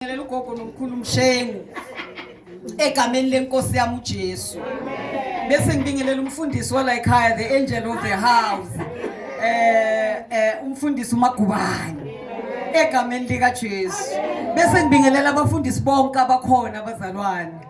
Ngibingelela ugogo nomkhulu Mshengu egameni lenkosi yami uJesu. Bese ngibingelela umfundisi wala ekhaya the angel of the house. Eh eh umfundisi uMagubane egameni lika Jesu. Bese ngibingelela abafundisi bonke abakhona abazalwane.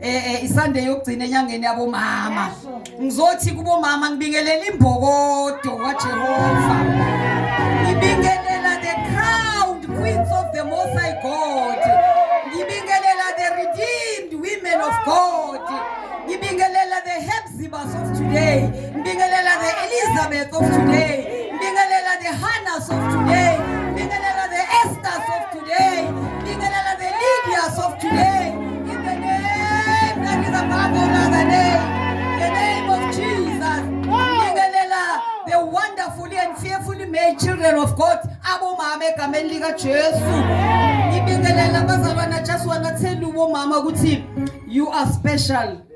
eh, eh isande yokugcina enyangeni yabomama ngizothi kubomama ngibingelela imbokodo kaJehova ngibingelela the crowned queens of the most high god ngibingelela the redeemed women of god ngibingelela the Sibas of today, Mbingelela the Elizabeth of today, Mbingelela the Hannahs of today, Mbingelela the Esthers of today, Mbingelela the Lydias of today, in the name that is above all other name, the name of Jesus, Mbingelela the wonderfully and fearfully made children of God, Abu Mame egameni lika Jesu, Mbingelela abazalwana Jesu wanathela umama ukuthi you are special.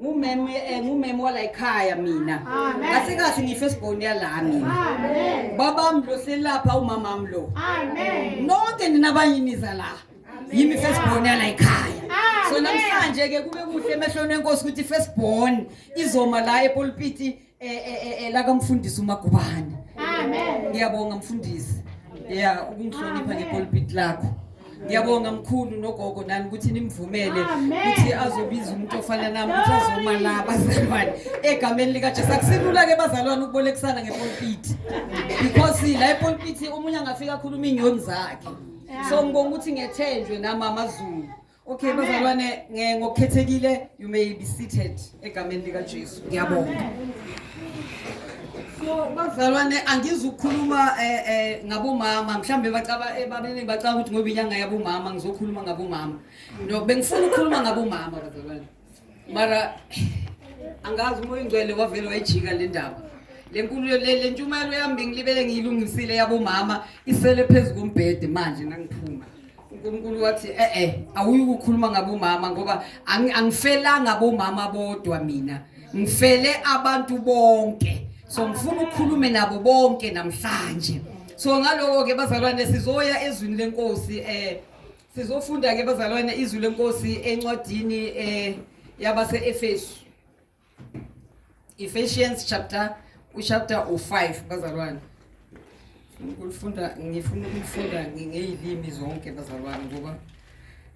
ngumeme eh, ngumeme wala ekhaya mina kahle kahle ngifesibhoni yala mina babami lo selapha umamami lo nonke ninabanye niza la yimi fesibhoni yala ekhaya so namhlanje-ke kube kuhle emehlweni enkosi ukuthi ifesibhoni izoma la epulpiti eh, eh, eh, eh laka mfundisi umagubane amen ngiyabonga mfundisi ya ukungihlonipha ngepulpit lakho ngiyabonga mkhulu nogogo nani ukuthi nimvumele ukuthi azobiza umuntu ofana nami ukuthi azoma la bazalwane egameni likajesu akusilula ke bazalwane ukubolekisana ngepulpit because la epulpit omunye angafika akhuluma inyoni zakhe so ngibonga ukuthi ngethenjwe namama zulu Okay bazalwane ngokukhethekile you may be seated egameni lika Jesu. Ngiyabonga. So bazalwane angizukhuluma eh eh ngabomama mhlambe bacaba eh, babene bacaba ukuthi ngoba inyanga yabomama ngizokhuluma ngabomama. No bengifuna ukukhuluma ngabomama bazalwane. mara angazi umoya ingcwele wavele wayijika le ndaba le nkulu le ntshumayelo yami bengilibele ngiyilungisile yabomama isele phezu kombhede manje nangiphuma unkulunkulu wathi e-e awuyi kukhuluma ngabomama ngoba angifelanga bomama bodwa mina ngifele abantu bonke so ngifuna ukukhulume nabo bonke namhlanje so ngaloko-ke bazalwane sizoya ezwini lenkosi um Sizofunda ke bazalwane izwi lenkosi encwadini eh yabaseEfesu. Ephesians chapter uchapter 5 bazalwane. Ngifunda ngifuna ukufunda ngeyilimi zonke bazalwane ngoba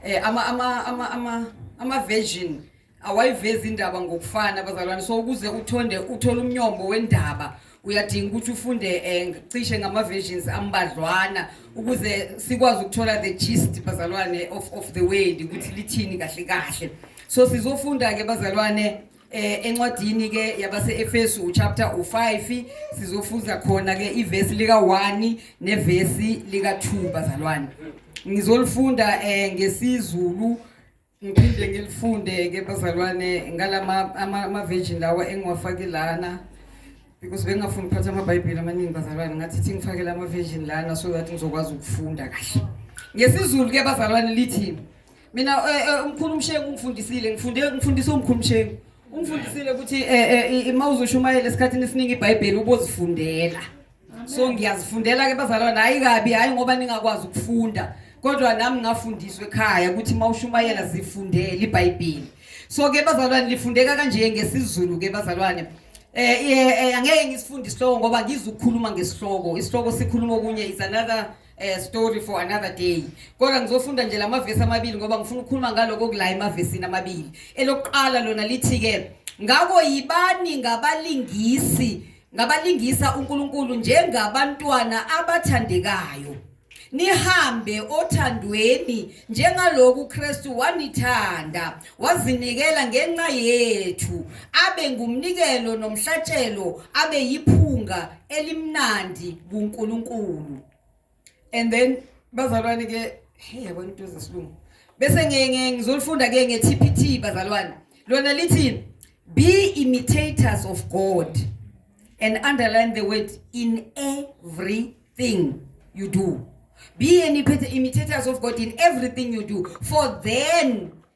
eh ama ama ama ama ama version awayivezi indaba ngokufana bazalwane so ukuze uthonde uthole umnyombo wendaba uyadinga ukuthi ufunde um cishe ngama-versions ambadlwana ukuze sikwazi ukuthola the gist bazalwane of, of the world ukuthi lithini kahle kahle so sizofunda-ke bazalwane eh encwadini ke yabaseEfesu uchapter u5 sizofuza khona ke ivesi lika 1 nevesi lika 2 bazalwane ngizolifunda eh ngesizulu ngiphinde ngilifunde-ke bazalwane ngalama ama-virgin lawa engiwafake lana because bengingafuni ukuphatha amabhayibheli amaningi bazalwane ngathi ithi ngifakele ama-virgin lana so that ngizokwazi ukufunda kahle ngesizulu-ke bazalwane lithi mina eh, eh, umkhulu umshengu ungifundisile ngifunde ngifundise umkhulu umshengu ungifundisile ukuthi um eh, uma uzoshumayela esikhathini esiningi ibhayibheli ubozifundela so ngiyazifundela ke bazalwane hayi kabi hayi ngoba ningakwazi ukufunda kodwa nami ngafundiswa ekhaya ukuthi uma ushumayela zifundele ibhayibhili so ke bazalwane lifundeka kanje ngesizulu ke bazalwane eh, eh, eh angeke ngisifunde isihloko ngoba ngizukukhuluma ngesihloko isihloko sikhuluma okunye is another eh, story for another day kodwa ngizofunda nje lamavesi amabili ngoba ngifuna ukukhuluma ngaloko kula emavesini amabili elokuqala lona lithi ke ngako yibani ngabalingisi ngabalingisa uNkulunkulu njengabantwana abathandekayo nihambe othandweni njengaloku uKristu wanithanda wazinikela ngenxa yethu abe ngumnikelo nomhlatshelo abe yiphunga elimnandi kuNkulunkulu and then bazalwane ke hey yabona into zesilungu bese ngeke ngizolifunda ke nge TPT bazalwane lona lithi be imitators of God and underline the word in everything you do be an imitators of God in everything you do for then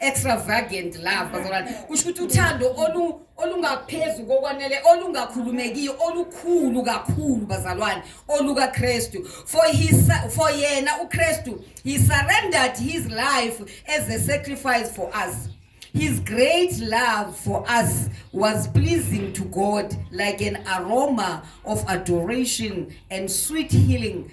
extravagant love bazalwane kusho ukuthi uthando olu olungaphezu kokwanele olungakhulumekiyo olukhulu kakhulu bazalwane oluka Kristu for his for yena uKristu he surrendered his life as a sacrifice for us His great love for us was pleasing to God like an aroma of adoration and sweet healing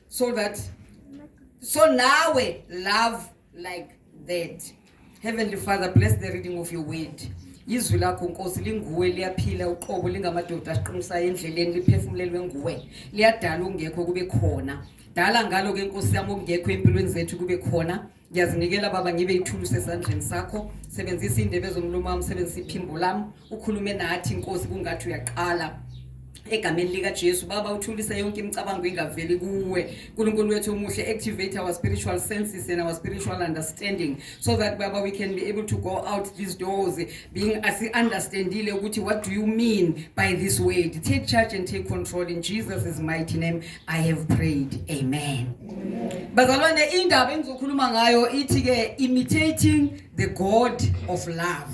so that so nawe love like that heavenly father bless the reading of your word izwi lakho nkosi linguwe liyaphila uqobo lingamadoda asiqinisayo endleleni liphefumulelwe nguwe liyadala ungekho kube khona dala ngalo ke nkosi yami okungekho empilweni zethu kube khona ngiyazinikela baba ngibe ithulusi esandleni sakho sebenzisa indebe zomlomo wami sebenzisa iphimbo lami ukhulume nathi inkosi kungathi uyaqala egameni likaJesu baba uthulise yonke imicabango ingaveli kuwe uNkulunkulu wethu omuhle activate our spiritual senses and our spiritual understanding so that baba we can be able to go out these doors being asi-understandile ukuthi what do you mean by this word take charge and take control in jesus' mighty name i have prayed amen bazalwane indaba engizokhuluma ngayo ithi-ke imitating the god of love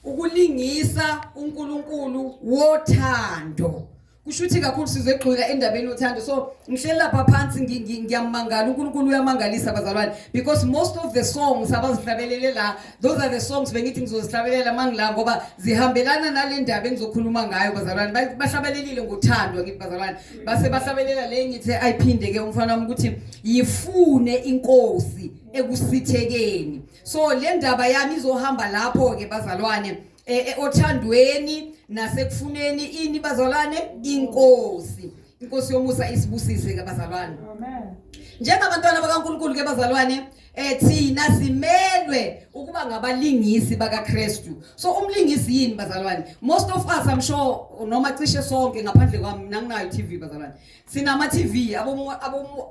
ukulingisa unkulunkulu wothando kusho ukuthi kakhulu sizegxila endabeni yothando so ngihleli lapha phansi ngiyamangala unkulunkulu uyamangalisa abazalwane because most of the songs abazihlabelele la those are the songs bengithi ngizozihlabelela uma ngila ngoba zihambelana nale ndaba engizokhuluma ngayo bazalwane bahlabelelile ngothando ngithi bazalwane base bahlabelela le ngithi ayiphinde ke umfana wami ukuthi yifune inkosi ekusithekeni so le ndaba yami izohamba lapho-ke bazalwane e, e, othandweni nasekufuneni ini bazalwane inkosi inkosi yomusa isibusise ke bazalwane amen njengabantwana bakaNkuluNkulu ke bazalwane eh thina simelwe ukuba ngabalingisi bakaKristu so umlingisi yini bazalwane most of us i'm sure noma cishe sonke ngaphandle kwami mina nginayo TV bazalwane sinama TV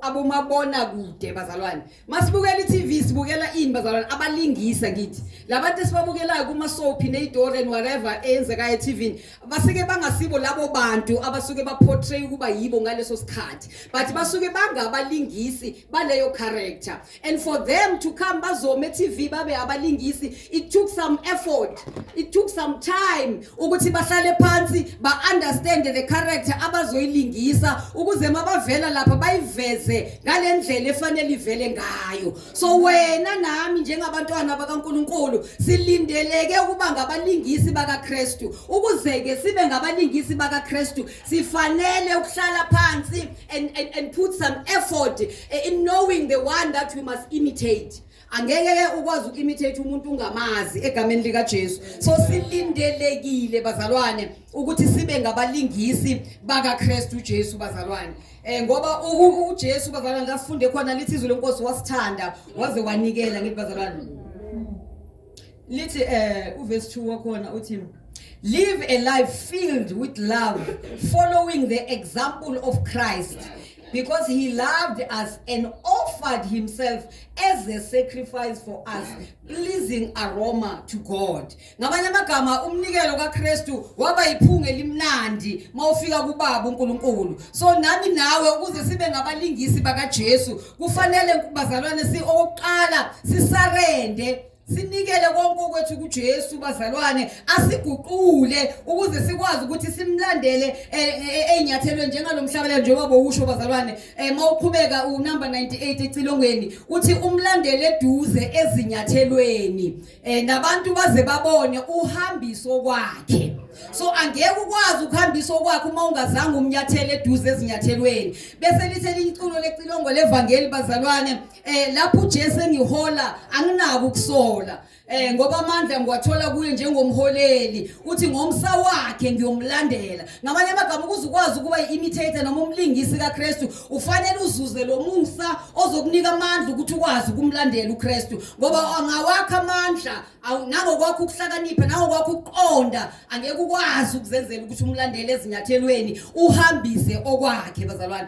abomabona kude bazalwane Masibukela iTV sibukela ini bazalwane abalingisa kithi. Labantu esibabukelayo kuma soap neidor and whatever eyenzekayo eTV basike bangasibo labo bantu abasuke ba portray ukuba yibo ngaleso sikhathi. But basuke bangabalingisi baleyo character. And for them to come bazome eTV babe abalingisi it took some effort. It took some time ukuthi bahlale phansi ba-understand the character abazoyilingisa ukuze mabavela lapha bayiveze ngale ndlela efanele ivele ngayo so wena nami njengabantwana bakankulunkulu silindeleke ukuba ngabalingisi bakakristu ukuze-ke sibe ngabalingisi bakakristu sifanele ukuhlala phansi and, and, and put some effort eh, in knowing the one that we must imitate angeke ke ukwazi uku-imitate umuntu ungamazi egameni likajesu so silindelekile bazalwane ukuthi sibe ngabalingisi bakakristu ujesu bazalwane um ngoba ujesu bazalwane lasifunde khona lithi izwi lenkosi wasithanda waze wanikela ngithi bazalwane lithi eh uverse 2 wakhona uthi live a life filled with love following the example of Christ because he loved us and offered himself as a sacrifice for us pleasing aroma to God ngamanye amagama umnikelo kaKristu waba yiphunga elimnandi mawufika kubaba uNkulunkulu so nami nawe ukuze sibe ngabalingisi bakaJesu kufanele bazalwane si okuqala sisarende sinikele konke okwethu kuJesu bazalwane asiguqule ukuze sikwazi ukuthi simlandele eh, eh, eh, ezinyathelweni njengalomhlabela njengoba bowusho bazalwane mawuqhubeka unumber 98 ecilongweni uthi umlandele eduze ezinyathelweni nabantu baze babone uhambiso kwakhe so angeke ukwazi ukuhambisa okwakhe uma ungazange umnyathele eduze ezinyathelweni bese lithe liyiculo lecilongo levangeli bazalwane eh lapho uJesu engihola anginaki ukusola eh ngoba amandla ngiwathola kuye njengomholeli uthi ngomsa wakhe ngiyomlandela ngamanye amagama ukuze ukwazi ukuba yi-imitator noma umlingisi kaKristu ufanele uzuze lo musa ozokunika amandla ukuthi ukwazi ukumlandela uKristu ngoba angawakha amandla nangokwakho ukuhlakanipha nangokwakho ukuqonda angeke ukwazi ukuzenzela ukuthi umlandele ezinyathelweni uhambise okwakhe bazalwane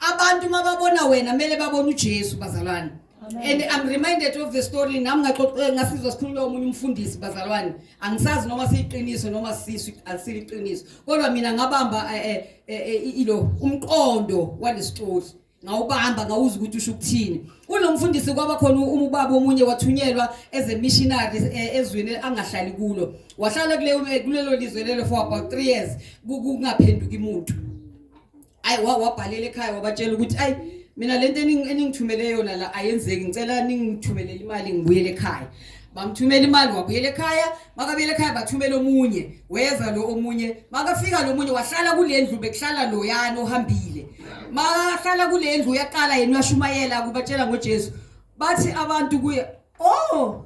Abantu mababona wena mele babone uJesu bazalwane. And I'm reminded of the story nami ngaxoxela ngasizwa sikhuluma omunye umfundisi bazalwane. Angisazi noma siyiqiniso noma sisu asiliqiniso. Kodwa mina ngabamba eh, eh, eh, ilo umqondo walesicoli. ngawubamba ngawuza ukuthi usho ukuthini kunomfundisi kwaba khona umubaba omunye wathunyelwa as a missionary eh, ezweni angahlali kulo wahlala kuleyo kulelo lizwe lelo for about 3 years kungaphenduki umuntu ayi wabhalela ekhaya wabatshela ukuthi ayi mina lento eningithumele yona la ayenzeki ngicela ningithumelele imali ngibuyele ekhaya bamthumela imali wabuyela ekhaya makabuyela ekhaya bathumela omunye weza lo omunye makafika lo munye wahlala kule ndlu bekuhlala loyana ohambile makahlala kule ndlu uyaqala yena uyashumayela kubatshela ngojesu bathi abantu kuye o oh,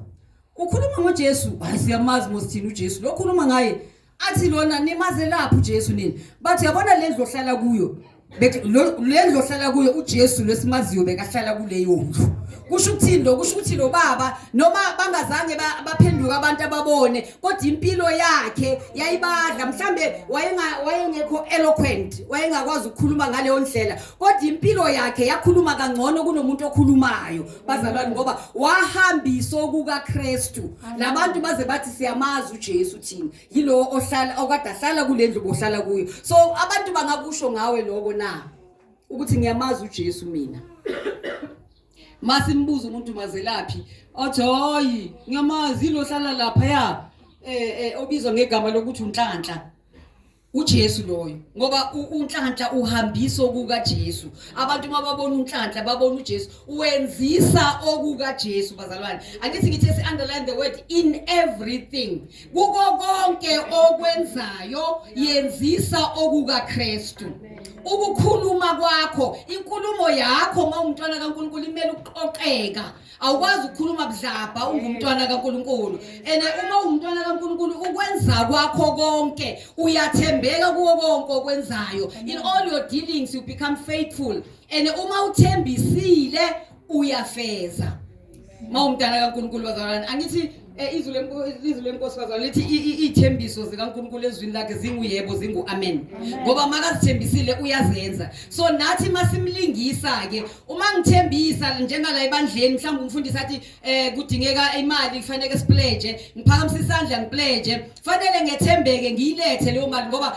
ukhuluma ngojesu hayi siyamazi mosithini ujesu lo khuluma ngaye athi lona nimazelaphi uJesu nini bathi yabona lendlu ohlala kuyo lendlu ohlala kuyo uJesu lesimaziyo bekahlala kuleyo ndlu kusho ukuthini lo kusho ukuthi lo baba noma bangazange baphenduka abantu ababone kodwa impilo yakhe yayibadla mhlambe wayenga wayengekho eloquent wayengakwazi ukukhuluma ngaleyo ndlela kodwa impilo yakhe yakhuluma kangcono kunomuntu okhulumayo bazalwane ngoba wahambisa okukaKristu nabantu baze bathi siyamazi uJesu thina yilowo ohlala okade ahlala kulendlu bohlala kuyo so abantu bangakusho ngawe lokho na ukuthi ngiyamazi uJesu mina masimbuza umuntu mazelaphi othi hayi ngiyamazi lo hlala lapha ya eh, eh obizwa ngegama lokuthi unhlanhla uJesu loyo ngoba unhlanhla uhambisa okuka Jesu abantu uma babona unhlanhla babona uJesu wenzisa okuka Jesu bazalwane angithi ngithi si underline the word in everything kuko konke okwenzayo yenzisa okuka Kristu ukukhuluma kwakho inkulumo yakho uma umntwana kaNkulunkulu imele ukuqoqeka awukwazi ukukhuluma budlabha ungumntwana kaNkuluNkulu and uma ungumntwana kaNkuluNkulu ukwenza kwakho konke uyathembeka kuwo konke okwenzayo in all your dealings you become faithful and uma uthembisile uyafeza mawumntana kaNkuluNkulu bazalwane angithi Eh, izwi lenkosikazi lithi iy'thembiso zikankulunkulu ezwini lakhe zinguyebo zingu-amen ngoba makazithembisile uyazenza so nathi masimlingisa-ke uma ngithembisa njengala ebandleni mhlawumbe umfundisi athi um kudingeka imali kufaneke sipleje ngiphakamise isandla ngipleje fanele ngethembeke ngiyilethe leyo mali ngoba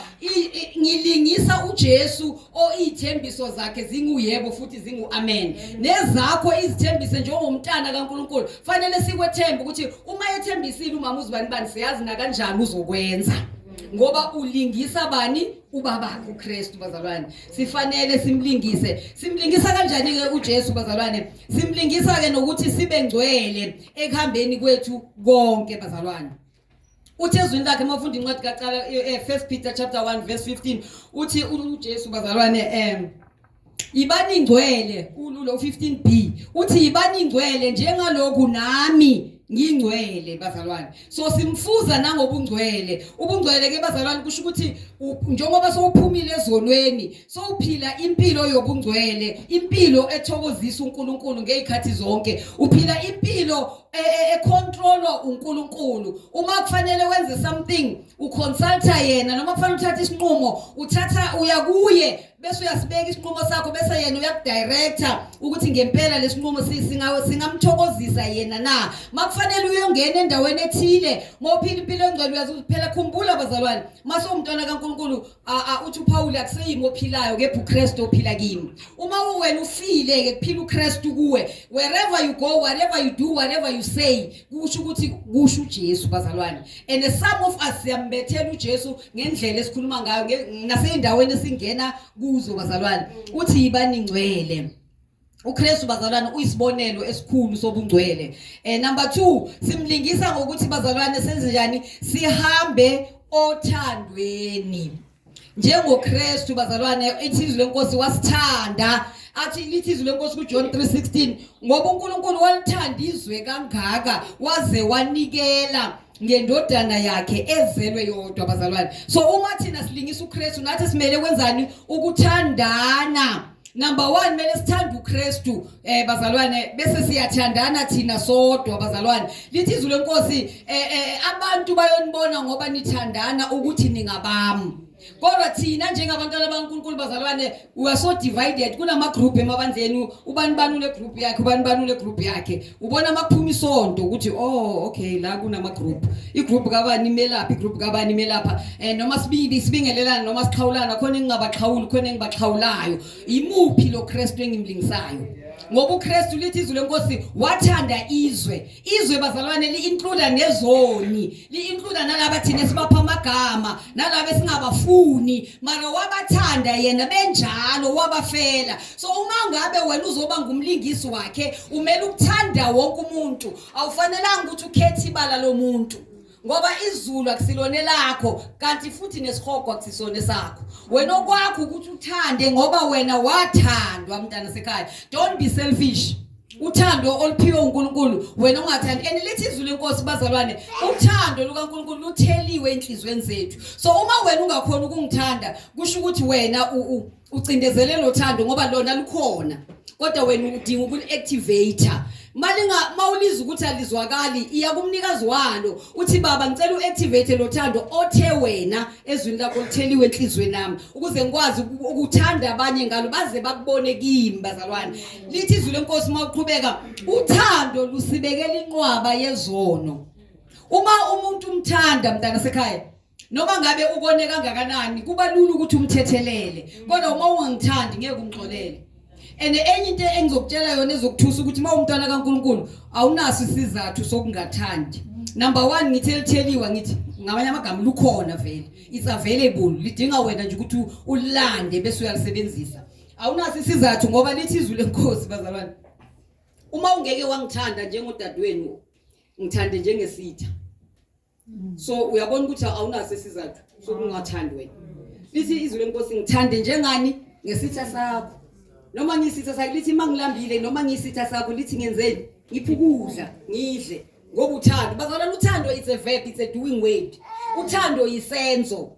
ngilingisa uJesu oithembiso zakhe zinguyebo futhi zinguamen nezakho izithembise njengomntana kaNkuluNkulu fanele sikwethembe ukuthi uma ethembisile umama uzibani bani siyazi na kanjani uzokwenza ngoba ulingisa bani ubabakhe uKristu bazalwane sifanele simlingise simlingisa kanjani ke uJesu bazalwane simlingisa ke nokuthi sibe ngcwele ekuhambeni kwethu konke bazalwane uthi ezwini lakhe uma ufunda incwadi kacala eh, eh, first peter chapter 1 verse 15 uthi ujesu bazalwane um yibani ingcwele ululo 15 b uthi yibani ingcwele njengaloku nami ngingcwele bazalwane so simfuza nangobungcwele ubungcwele ke bazalwane kusho ukuthi njengoba sowuphumile ezonweni sowuphila impilo yobungcwele impilo ethokozisa uNkulunkulu ngezikhathi zonke uphila impilo e, e, econtrolwa uNkulunkulu uma kufanele wenze something uconsulta yena noma kufanele uthathe isinqumo uthatha uya kuye bese uyasibeka isinqumo sakho bese yena uyakudirector ukuthi ngempela lesinqumo singawe singamthokozisa yena na makufanele uyongena endaweni ethile mophila impilo engcwele uyazi kuphela khumbula bazalwane mase umntwana kaNkuluNkulu Aa uthi uPawulu akuseyimi ophilayo kepha uKristu ophila kimi. Uma uwena ufile ke kuphila uKristu kuwe. Wherever you go, whatever you do, whatever you say, kusho ukuthi kusho uJesu bazalwane. And some of us siyambethela uJesu ngendlela esikhuluma ngayo naseyindaweni esingena kuzo bazalwane. Uthi yibaningcwele. uKristu bazalwane uyisibonelo esikhulu sobungcwele eh number 2 simlingisa ngokuthi bazalwane senze njani sihambe othandweni njengoKristu bazalwane ithizwe lenkosi wasithanda athi lithi izwi lenkosi kuJohn 3:16 ngoba uNkulunkulu walithanda izwe kangaka waze wanikela ngendodana yakhe ezelwe yodwa abazalwane so uma thina silingisa uKristu nathi simele kwenzani ukuthandana number 1 mele sithanda uKristu eh bazalwane bese siyathandana thina sodwa bazalwane lithi izwi lenkosi eh, eh abantu bayonibona ngoba nithandana ukuthi ningabami kodwa thina njengabantwana bankulunkulu bazalwane we are so divided kunamagroup emabandleni ubani bani unegroup yakhe ubani bani unegroup yakhe ubona amaphuma isonto ukuthi oh okay la kunamagroup igroup kabani imelapha igroup kabani imelapha um noma sibili sibingelelana noma sixhawulana khona engingabaxhawuli khona engibaxhawulayo yimuphi lo kristu engimlingisayo ngoba ukristu lithi izwi lenkosi wathanda izwe izwe bazalwane li-includa nezoni li-includa nalaba thina esibapha amagama nalaba esingabafuni mara wabathanda yena benjalo wabafela so uma ngabe wena uzoba ngumlingisi wakhe umele ukuthanda wonke umuntu awufanelanga ukuthi ukhethe ibala lomuntu ngoba izulu akusilona elakho kanti futhi nesihogo akusisona esakho wena okwakho ukuthi uthande ngoba wena wathandwa mntana sekhaya don't be selfish uthando oluphiwe uNkulunkulu wena ungathandi and lithi izwi lenkosi bazalwane uthando lukaNkulunkulu lutheliwe enhlizweni zethu so uma wena ungakhona ukungithanda kusho ukuthi wena ucindezelelo thando ngoba lona lukhona kodwa wena udinga ukuli-activator malinga mawuliza ukuthi alizwakali iya kumnikazi walo uthi baba ngicela uactivate lo thando othe wena ezwini lakho litheliwe enhlizweni nami ukuze ngikwazi ukuthanda abanye ngalo baze bakubone kimi bazalwane lithi izwi lenkosi uma uqhubeka uthando lusibekela inqwaba yezono uma umuntu umthanda mntana sekhaya noma ngabe ukone kangakanani kuba lula ukuthi umthethelele kodwa uma ungangithandi ngeke ungixolele and enye into engizokutshela yona ezokuthusa ukuthi uma umntwana kaNkuluNkulu awunaso isizathu sokungathandi number 1 ngithi elitheliwa ngithi ngamanye amagama lukhona vele it's available lidinga wena nje ukuthi ulande bese uyalisebenzisa awunaso isizathu ngoba lithi izwi lenkosi bazalwane uma ungeke wangithanda njengodadewenu ngithande njengesitha mm. so uyabona ukuthi awunaso isizathu sokungathandi wena lithi izwi lenkosi ngithande njengani ngesitha sakho noma ngisitha sakho lithi mangilambile noma ngisitha sakho lithi ngenzeni ngiphi ukudla ngidle ngoba uthando bazalwana uthando it's a verb it's a doing word uthando yisenzo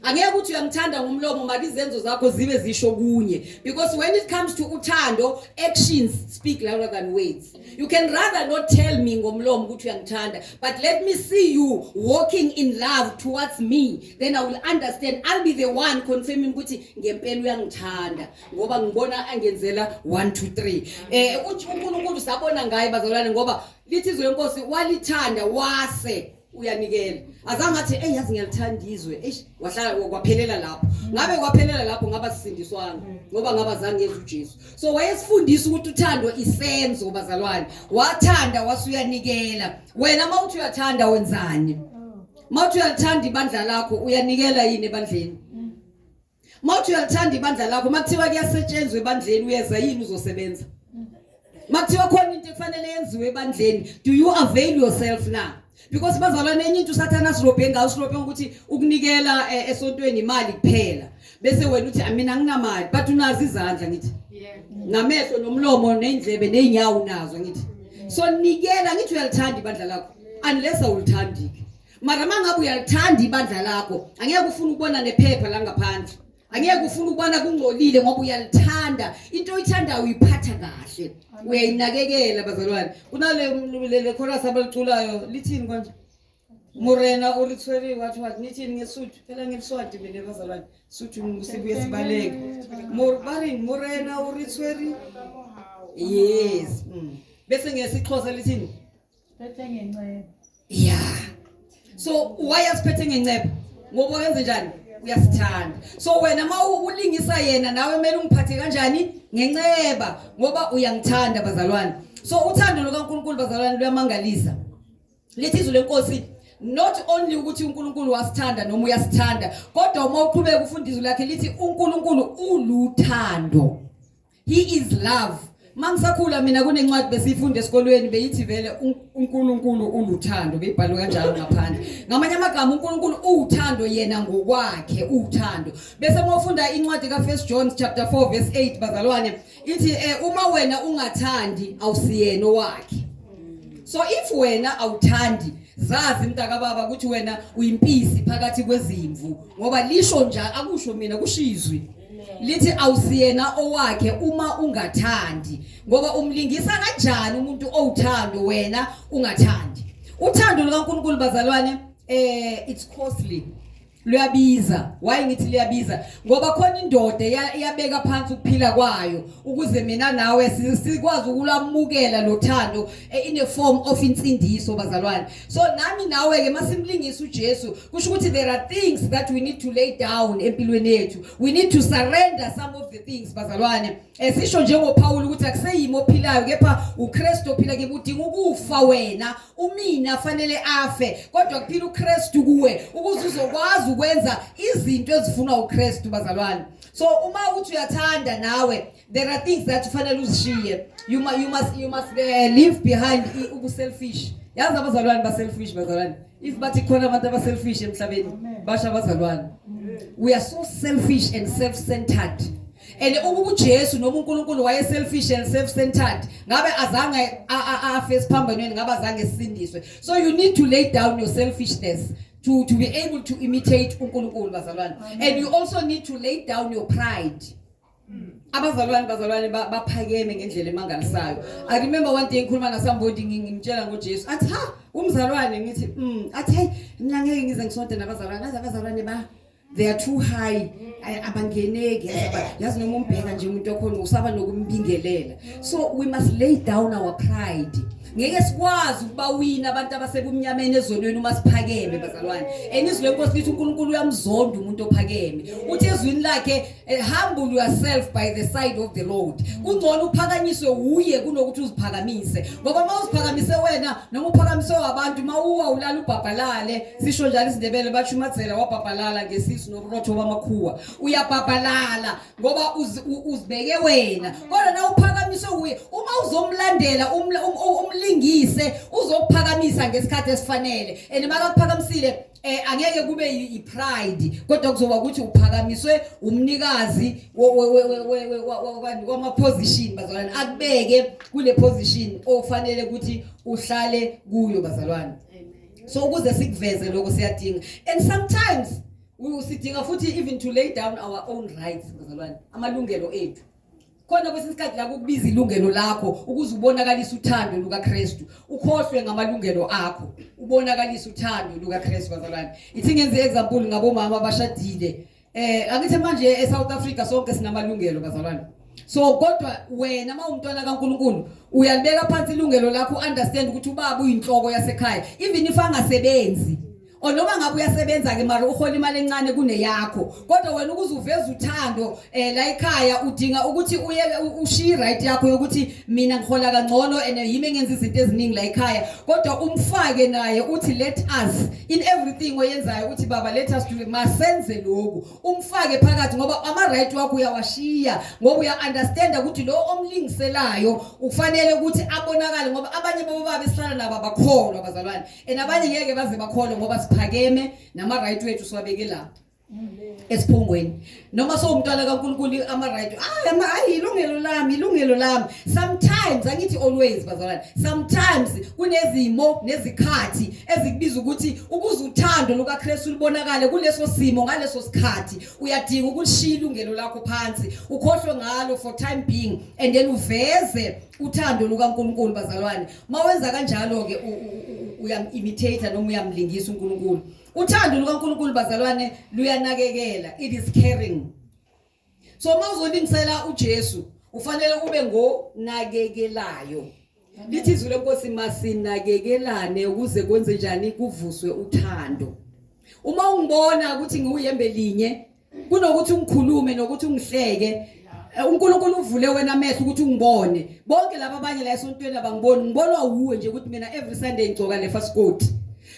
angeke ukuthi uyangithanda ngomlomo maka izenzo zakho zibe zisho kunye because when it comes to uthando actions speak louder than words you can rather not tell me ngomlomo ukuthi uyangithanda but let me see you walking in love towards me then i will understand i'll be the one confirming ukuthi ngempela uyangithanda ngoba ngibona angenzela 1 2 3 eh uNkulunkulu sabona ngaye bazalwane ngoba lithi izwe lenkosi walithanda wase uyanikela azange athi eyi yazi ngiyalithanda izwe eish wahlala kwaphelela lapho ngabe kwaphelela lapho ngaba sisindiswana ngoba ngaba zange yenza uJesu so wayesifundisa ukuthi uthando isenzo bazalwane wathanda wasuyanikela wena mawuthi uyathanda wenzani mawuthi uyathanda ibandla lakho uyanikela yini ebandleni Mawuthi uyalithanda ibandla lakho makuthiwa kuyasetshenzwa ebandleni uyeza yini uzosebenza? Makuthiwa khona into ekufanele yenziwe ebandleni do you avail yourself na? Because bazalwane enye into usathana asirobhe ngawo usirobhe ukuthi ukunikela eh, esontweni imali kuphela bese wena uthi mina nginamali but unazi izandla ngithi namehlo nomlomo neindlebe neenyawo unazo ngithi so nikela ngithi uyalithanda ibandla lakho unless awulithandi mara uma ngabe uyalithanda ibandla lakho angeke ufune ukubona nephepha langaphandle angeke ufune ukubona kungcolile ngoba uyalithanda into oyithandayo uyiphatha kahle uyayinakekela bazalwane kunale chorus abaliculayo lithini konje murena ulithwele wathi wathi nithini ngesuthu phela ngeliswadi mina bazalwane suthu sibuye sibaleke barini murena ulithwele yes mm. bese ngesixhosa lithini Siphethe ngenceba. Yeah. So why asiphethe ngenceba? Ngoba wenze njani? Uyasithanda. So wena uma ulingisa yena nawe kumele ungiphathe kanjani? Ngenceba ngoba uyangithanda bazalwane. So uthando lukaNkulunkulu bazalwane luyamangalisa. Lithi izwi lenkosi not only ukuthi uNkulunkulu wasithanda noma uyasithanda kodwa uma uqhubeka ufunda izwi lakhe lithi uNkulunkulu uluthando he is love mangisakhula mina kunencwadi besiyifunda esikolweni beyithi vele uNkulunkulu uluthando beyibhalwe kanjalo ngaphandle ngamanye amagama uNkulunkulu uwuthando yena ngokwakhe uwuthando bese mawufunda incwadi ka 1 John chapter 4 verse 8 bazalwane ithi eh, uma wena ungathandi awusiyena owakhe so if wena awuthandi zazi mntaka baba ukuthi wena uyimpisi phakathi kwezimvu ngoba lisho njalo akusho mina kushizwi lithi awusiyena owakhe uma ungathandi ngoba umlingisa kanjani umuntu owuthando wena ungathandi uthando lukaNkulunkulu bazalwane eh it's costly luyabiza why ngithi liyabiza ngoba khona indoda iyabeka phansi ukuphila kwayo ukuze mina nawe sikwazi ukulamukela lothando eh, in a form of insindiso bazalwane so nami nawe-ke uma simlingisa ujesu kusho ukuthi there are things that we need to lay down empilweni yethu we need to surrender some of the things bazalwane esisho eh, njengophawula ukuthi akuseyimi ophilayo kepha ukristu ophila kibe udinga ukufa wena umina fanele afe kodwa kuphila ukristu kuwe ukuze uzokwazi ukwenza izinto ezifunwa ukristu bazalwane so uma uthi uyathanda nawe There are things that kufanele uzishiye. You must you must you must uh, leave behind ubu selfish. Yazi abazalwane ba selfish bazalwane. If bathi khona abantu aba selfish emhlabeni basha abazalwane. We are so selfish and self-centered. And ukuba uJesu noma uNkulunkulu waye selfish and self-centered ngabe azange afe esiphambonweni ngabe azange sisindiswe. So you need to lay down your selfishness to to be able to imitate uNkulunkulu bazalwane. And you also need to lay down your pride. abazalwane bazalwane baphakeme ngendlela emangalisayo i remember one day ngikhuluma nasambodi ngimtshela ngojesu athi ha umzalwane ngithi mm athi hey mina ngeke ngize ngisonte nabazalwane aze abazalwane ba they are too high abangeneki yazi noma umbheka nje umuntu okhona usaba nokumbingelela so we must lay down our pride ngeke sikwazi ukubawina abantu abasebumnyameni ezonweni uma siphakeme bazalwane and izwi lenkosi lithi uNkulunkulu uyamzonda umuntu ophakeme uthi ezwini lakhe Eh, humble yourself by the side of the road kungcono uphakanyiswe wuye kunokuthi uziphakamise ngoba uma uziphakamise wena noma uphakamise wabantu uma uwa ulala ubhabhalale sisho njalo isindebele basho umadzela wabhabhalala ngesisu nokurotho bamakhuwa uyabhabhalala ngoba uzibeke wena kodwa na uphakamise wuye uma uzomlandela um, um, umlingise uzokuphakamisa ngesikhathi esifanele and makakuphakamisile eh angeke kube ipride kodwa kuzoba ukuthi uphakamiswe umnikazi wama position bazalwane akubeke kule position ofanele ukuthi uhlale kuyo bazalwane so ukuze sikuveze lokho siyadinga and sometimes sidinga futhi even to lay down our own rights bazalwane amalungelo ethu khona kwesinye isikhathi la kukubiza ilungelo lakho ukuze ubonakalise uthando lukaKristu ukhohlwe ngamalungelo akho ubonakalise uthando lukaKristu bazalwane ithi ngenze example ngabomama abashadile eh angithi manje eSouth Africa sonke sinamalungelo bazalwane so kodwa wena uma umntwana kaNkuluNkulu uyalibeka phansi ilungelo lakho understand ukuthi ubaba uyinhloko yasekhaya even if angasebenzi or noma ngabe uyasebenza ke mara uhola imali encane kuneyakho kodwa wena ukuze uveze uthando eh la ekhaya udinga ukuthi uye ushiye right yakho yokuthi mina ngihola kangcono and yimi engenza izinto eziningi la ekhaya kodwa umfake naye uthi let us in everything oyenzayo uthi baba let us do masenze lokhu umfake phakathi ngoba ama right wakho uyawashiya ngoba uya understand ukuthi lo omlingiselayo ufanele ukuthi abonakale ngoba abanye babo babe sihlala nabo abakholwa bazalwane and abanye ngeke baze bakholwe ngoba siphakeme nama-right wethu siwabeke lapho esiphungweni noma sowumntwana kaNkulunkulu ama-right ah, ama hayi ilungelo lami ilungelo lami sometimes angithi always bazalwane sometimes kunezimo nezikhathi ezikubiza ukuthi ukuze uthando lukaKristu lubonakale kuleso simo ngaleso sikhathi uyadinga ukulishiya ilungelo lakho phansi ukhohlwe ngalo for time being and then uveze uthando lukaNkulunkulu bazalwane mawenza kanjalo ke uyam-imitate noma uyamlingisa uNkulunkulu uthando lukaNkulunkulu bazalwane luyanakekela it is caring so mawuzolingisela uJesu ufanele ube ngonakekelayo lithi izwi lenkosi masinakekelane ukuze kwenze njani kuvuswe uthando uma ungibona ukuthi ngiwuyembe linye kunokuthi ungikhulume nokuthi ungihleke eh, uNkulunkulu uvule wena amehlo ukuthi ungibone bonke laba abanye la esontweni abangiboni ngibonwa wuwe nje ukuthi mina every sunday ngigcoka le fast coat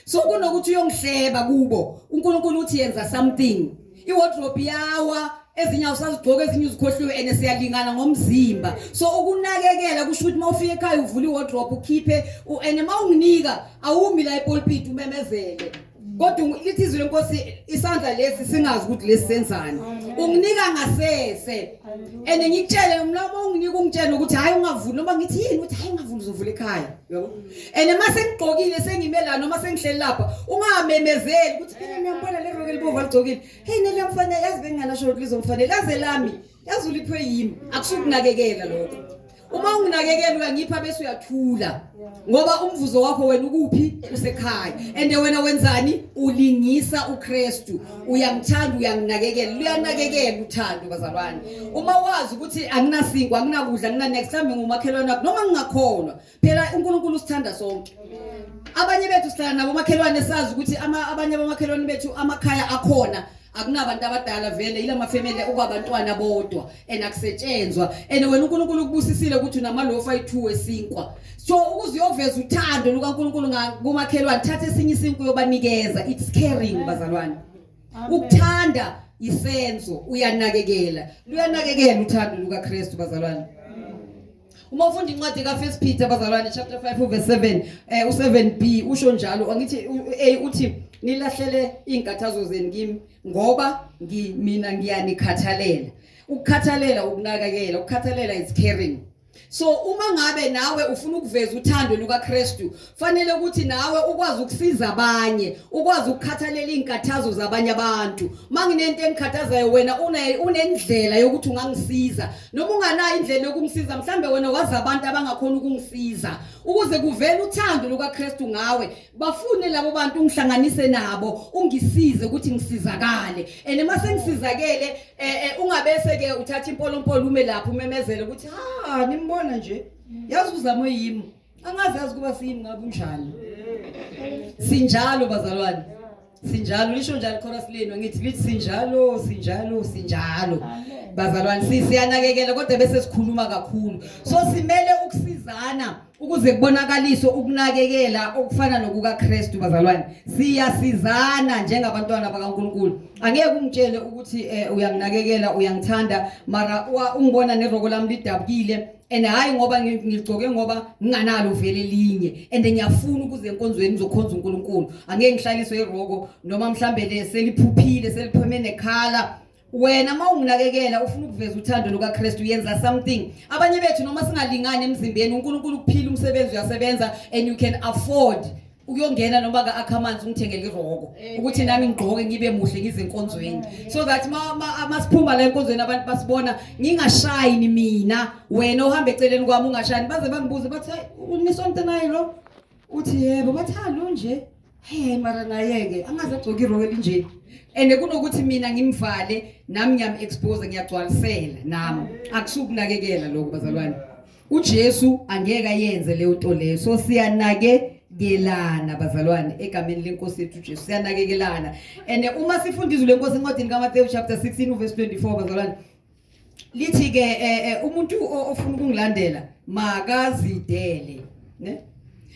so kunokuthi uyongihleba kubo uNkulunkulu uthi yenza something iwardrobe yawa ezinye awusazigcoka ezinye uzikhohliwe and siyalingana ngomzimba so ukunakekela kusho ukuthi mawufika ekhaya uvula iwardrobe ukhiphe and mawunginika awumi la epulpit umemezele kodwa lithi izwi lenkosi isandla lesi singazi ukuthi lesi senzani unginika ngasese and ngikutshele umlomo unginika ungitshele ukuthi hayi ungavuli noma ngithi yini ukuthi hayi ungavuli uzovula ekhaya yabo and uma sengigqokile sengime la noma sengihleli lapha ungamemezeli ukuthi phela ngiyambona le roke libova ligcokile hey nele mfanele yazi benginganasho ukuthi lizomfanele laze lami yazi uliphwe yimi akusukunakekela lokho uma unginakekela uyangipha bese uyathula ngoba umvuzo wakho wena ukuphi usekhaya and wena wenzani ulingisa uKristu uyangithanda uyanginakekela luyanakekela uthando bazalwane uma wazi ukuthi anginasinkwa anginakudla anginanext time ngomakhelwane noma ngingakholwa phela uNkulunkulu usithanda sonke abanye bethu sihlala nabo makhelwane sazi ukuthi ama abanye abamakhelwane bethu amakhaya akhona akunabantu abadala vele yila mafamily okwabantwana bodwa and akusetshenzwa and wena uNkulunkulu ukubusisile ukuthi unamalofu ayi2 esinkwa so ukuze uyoveza uthando lukaNkulunkulu ngakumakhelwane thatha esinye isinku yobanikeza it's caring bazalwane ukuthanda isenzo uyanakekela luyanakekela uthando lukaKristu bazalwane uma ufunda incwadi kafirst peter bazalwane chapter 5 uverse 7 um eh, u-7 b usho njalo angithi u-a uthi nilahlele iy'nkathazo zenu kimi ngoba mina ngiyanikhathalela ukukhathalela ukunakekela ukukhathalela is caring so uma ngabe nawe ufuna ukuveza uthando lukakristu Fanele ukuthi nawe ukwazi ukusiza abanye, ukwazi ukukhathalela izinkathazo zabanye abantu. Manginento engikhathazayo wena une unendlela yokuthi ungangisiza. Noma unganayo indlela yokumsiza, mhlambe wena wazi abantu abangakhona ukungisiza. Ukuze kuvele uthando lukaKristu ngawe, bafune labo bantu ungihlanganise nabo, ungisize ukuthi ngisizakale. And uma sengisizakele, eh, eh ungabese ke uthatha impolompolo ume lapho umemezele ukuthi ha nimbona nje. Yazi uzamo yimi. angazazi kuba siyini ngabe unjani sinjalo bazalwane sinjalo lisho njalo ichorus lenu ngithi lithi sinjalo sinjalo sinjalo bazalwane siyanakekela kodwa bese sikhuluma kakhulu so simele ukusizana ukuze kubonakaliswe ukunakekela okufana nokukaKristu bazalwane siyasizana njengabantwana bakaNkuluNkulu angeke ungitshele ukuthi eh, uyanginakekela uyangithanda mara ungibona neroko lami lidabukile and hayi ngoba ngigcoke ngoba nginganalo vele linye and ngiyafuna ukuze enkonzweni ngizokhonza uNkulunkulu angeke ngihlaliswe iroko noma mhlambe le seliphuphile selipheme nekhala wena uma unginakekela ufuna ukuveza uthando lukaKristu yenza something abanye bethu noma singalingani emzimbeni uNkulunkulu ukuphila umsebenzi uyasebenza and you can afford ukuyongena noma ka-akha amanzi ungithengele iroko ukuthi nami ngigqoke ngibe muhle ngizenkonzweni so that masiphuma la enkonzweni abantu basibona ngingashayini mina wena ohamba eceleni kwami ungashayini baze bangibuze bathi unisonto naye lo uthi yebo bathi halo nje he mara naye-ke angaze agcoke iroko elinjeni and kunokuthi mina ngimvale nami ngiyam-expose ngiyagcwalisela nami akusukunakekela lokho bazalwane uJesu angeke ayenze leyo nto leyo so siyanake kelana bazalwane egameni lenkosi yethu Jesu siyanakekelana and uma sifunda izwi lenkosi encwadini kaMathewu chapter 16 verse 24 bazalwane lithi ke eh, eh, umuntu ofuna ukungilandela makazidele ne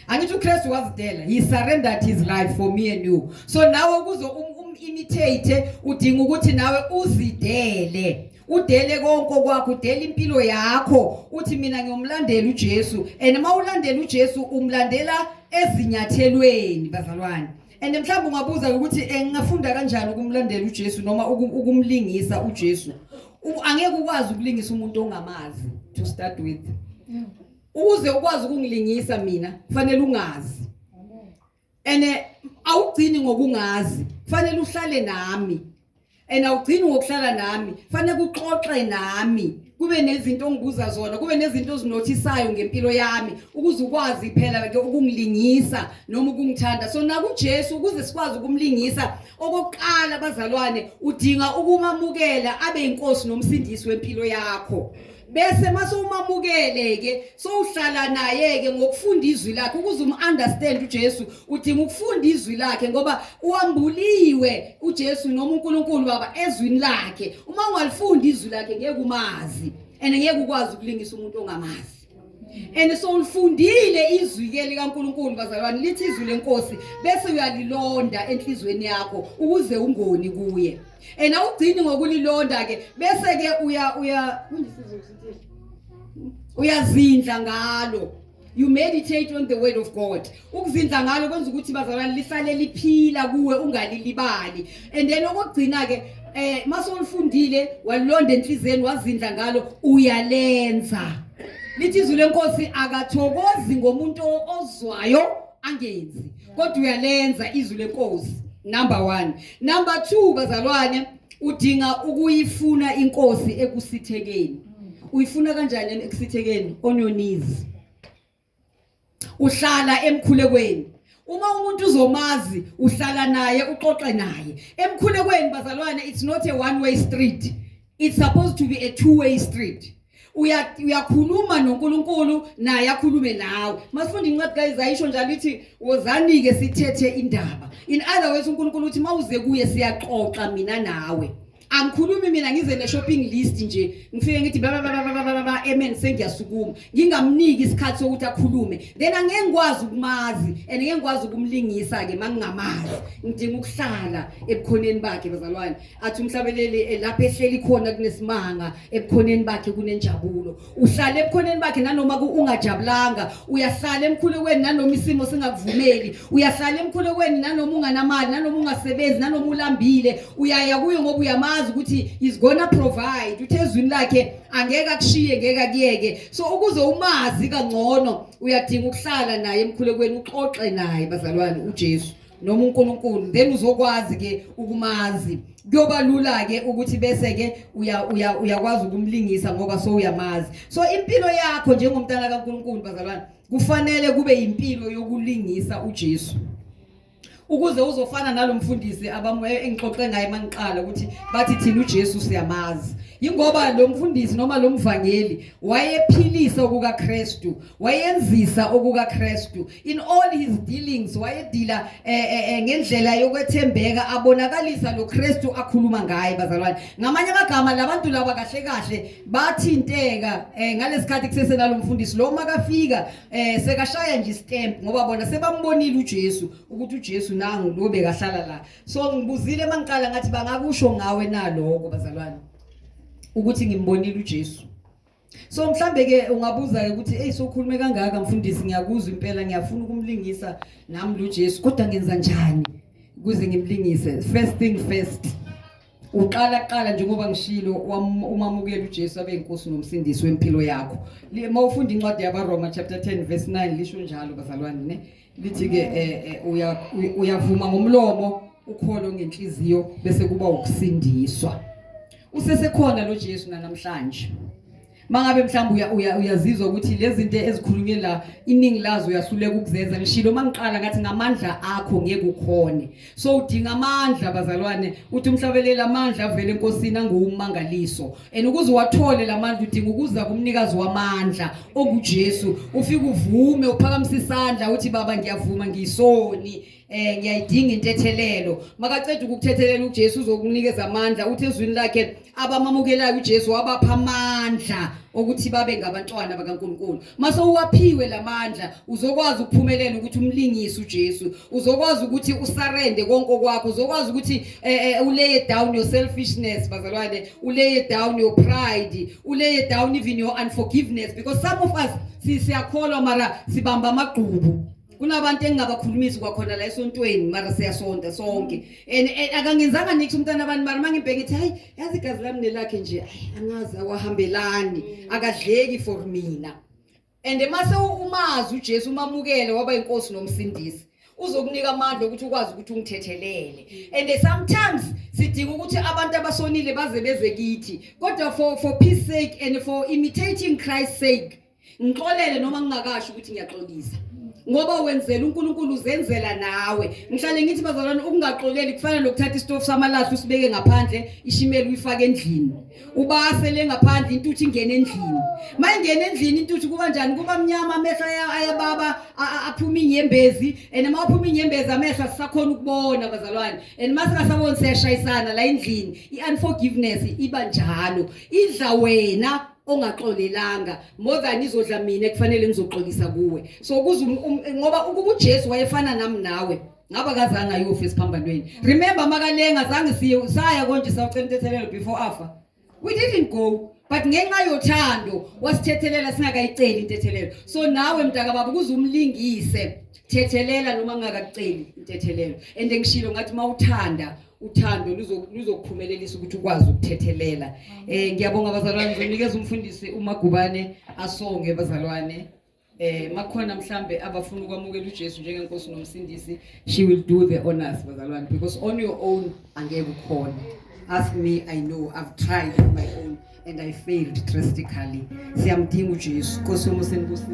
angithi uKristu wazidela he surrendered his life for me and you so nawe kuzo um, um imitate udinga ukuthi nawe uzidele udele konke okwakho udele impilo yakho uthi mina ngiyomlandela uJesu and uma ulandela uJesu umlandela ezinyathelweni bazalwane and mhlawumbe ungabuza ukuthi eh, ngingafunda kanjani ukumlandela uJesu noma ukumlingisa uJesu angeke ukwazi ukulingisa umuntu ongamazi to start with ukuze ukwazi ukungilingisa mina kufanele ungazi and eh, awugcini ngokungazi kufanele uhlale nami and awugcini ngokuhlala nami kufanele kuxoxe nami kube nezinto ongibuza zona kube nezinto ozinothisayo ngempilo yami ukuze ukwazi phela ke ukungilingisa noma ukungithanda so naku Jesu ukuze sikwazi ukumlingisa okokuqala bazalwane udinga ukumamukela abe inkosi nomsindisi wempilo yakho bese mase umamukele ke sowuhlala naye ke ngokufunda izwi lakhe ukuze umunderstand uJesu udinga ukufunda izwi lakhe ngoba uambuliwe uJesu noma uNkulunkulu baba ezwini lakhe uma ungalifunda izwi lakhe ngeke umazi and ngeke ukwazi ukulingisa umuntu ongamazi and so ulifundile izwi ke likaNkuluNkulu bazalwane lithi izwi lenkosi bese uyalilonda enhlizweni yakho ukuze ungoni kuye and awugcini ngokulilonda ke bese ke uya uya uyazindla ngalo you meditate on the word of god ukuzindla ngalo kwenza ukuthi bazalwane lisale liphila kuwe ungalilibali and then okugcina ke eh mase ulifundile walonda enhliziyeni wazindla ngalo uyalenza lithi izwi lenkosi akathokozi ngomuntu ozwayo angenzi kodwa uyalenza izwi lenkosi number 1 number 2 bazalwane udinga ukuyifuna inkosi ekusithekeni uyifuna kanjani ekusithekeni on your knees uhlala emkhulekweni uma umuntu uzomazi uhlala naye uxoxe naye emkhulekweni bazalwane it's not a one way street it's supposed to be a two way street Uya- uyakhuluma nonkulunkulu naye akhulume nawe masifunda incwadi kayizayi isho njalo ithi wozani-ke sithethe indaba in other words unkulunkulu uthi mawuze kuye siyaxoxa mina nawe angikhulumi mina ngize ne-shopping list nje ngifike ngithi bababababababa amen sengiyasukuma ngingamniki isikhathi sokuthi akhulume then angeke ngikwazi ukumazi and ngeke ngikwazi ukumlingisa-ke ma ngingamazi ngidinga ukuhlala ebukhoneni bakhe bazalwane athi umhlabeleli eh, lapho ehleli khona kunesimanga ebukhoneni bakhe kunenjabulo uhlala ebukhoneni bakhe nanoma ungajabulanga uyahlala emkhulekweni nanoma isimo singakuvumeli uyahlala emkhulekweni nanoma unganamali nanoma ungasebenzi nanoma ulambile uyaya kuyo ngoba uyamazi ukuthi is gonna provide uthe ezwini lakhe angeke akushiye ngeke akuyeke so ukuze umazi kangcono uyadinga ukuhlala naye emkhulekweni uxoxe naye bazalwane uJesu noma uNkulunkulu then uzokwazi ke ukumazi kuyoba lula ke ukuthi bese ke uya uya uyakwazi ukumlingisa ngoba so uyamazi so impilo yakho njengomntana kaNkulunkulu bazalwane kufanele kube impilo yokulingisa uJesu ukuze uzofana nalomfundisi abamoya engixoxe ngaye mangiqala ukuthi bathi thina uJesu siyamazi ingoba lo mfundisi noma lo mvangeli wayephilisa okukaKristu wayenzisa okukaKristu In all his dealings wayedila eh, eh, eh, ngendlela yokwethembeka abonakalisa lo Kristu akhuluma ngaye bazalwane. Ngamanye amagama labantu laba kahle kahle bathinteka eh, ngalesikhathi kusese nalomfundisi lo makafika eh, sekashaya nje stamp ngoba bona sebambonile uJesu ukuthi uJesu nangu lo bekahlala la. So ngibuzile mangiqala ngathi bangakusho ngawe naloko bazalwane ukuthi ngimbonile uJesu. so mhlambe ke ungabuza ke ukuthi hey sokhulume kangaka mfundisi ngiyakuzwa impela ngiyafuna ukumlingisa nami lo Jesu kodwa ngenza njani kuze ngimlingise first thing first uqala qala njengoba ngishilo umamukela uJesu abe inkosi nomsindisi wempilo yakho uma ufunda incwadi yabaRoma chapter 10 verse 9 lisho njalo bazalwane ne lithi ke eh, eh, uya uyavuma ngomlomo ukholo ngenhliziyo bese kuba ukusindiswa usesekhona lo Jesu namhlanje mangabe mhlawumbe uya uyazizwa ukuthi lezi zinto ezikhulunywe la iningi lazo uyahluleka ukuzenza ngishilo mangiqala ngathi ngamandla akho ngeke ukhone so udinga amandla bazalwane uthi umhlabeleli amandla avele enkosini anguwumangaliso and ukuze uwathole la mandla udinga ukuza kumnikazi wamandla ongujesu ufike uvume uphakamise isandla uthi baba ngiyavuma ngiyisoni eh ngiyayidinga intethelelo makaceda ukukuthethelela uJesu uzokunikeza amandla uthi ezwini lakhe abamamukelayo uJesu wabapha amandla okuthi babe ngabantwana bakaNkuluNkulu mase uwaphiwe lamandla uzokwazi ukuphumelela ukuthi umlingise uJesu uzokwazi ukuthi usarende konke okwakho uzokwazi ukuthi eh, eh, uleye down your selfishness bazalwane uleye down your pride uleye down even your unforgiveness because some of us siyakholwa mara sibamba amagqubu kunabantu engingabakhulumisi kwakhona la esontweni mara siyasonta sonke mm. and akangenzanga nithi umntana abantu mara mangibheke ngithi hayi yazi igazi lami nelakhe nje hayi angazi awahambelani mm. akadleki for mina and mase umazi uJesu umamukele waba inkosi nomsindisi uzokunika amandla ukuthi ukwazi ukuthi ungithethelele mm. and sometimes sidinga ukuthi abantu abasonile baze beze kithi kodwa for for peace sake and for imitating Christ sake ngixolele noma ngingakasho ukuthi ngiyaxolisa ngoba wenzela uNkulunkulu uzenzela nawe ngihlale ngithi bazalwane ukungaxoleli kufana nokuthatha istofu samalahle usibeke ngaphandle ishimela uyifake endlini ubase le ngaphandle intuthu ingene endlini mayingena endlini intuthu kuba njani kuba mnyama amehlo ayababa aphuma inyembezi and uma uphuma inyembezi amehlo asisakhona ukubona bazalwane and uma singasaboni siyashayisana la endlini i-unforgiveness iba njalo idla wena ongaxolelanga more than izodla mina kufanele ngizoxolisa kuwe so kuze um, um, ngoba ukuba uJesu wayefana nami nawe ngaba kazange ayofa esiphambanweni remember makalenga zange siye saya konje sawucela intethelelo before afa we didn't go but ngenxa yothando wasithethelela singakayiceli intethelelo so nawe mntaka baba kuze umlingise thethelela noma ngakakuceli intethelelo and ngishilo ngathi mawuthanda uthando luzokuphumelelisa ukuthi ukwazi ukuthethelela eh ngiyabonga bazalwane ngizonikeza umfundisi umagubane asonge bazalwane eh makhona mhlambe abafuna ukwamukela uJesu njengenkosi nomsindisi she will do the honors bazalwane because on your own angeke ukhona ask me i know i've tried on my own and i failed drastically siyamdinga uJesu nkosi yomusenibusise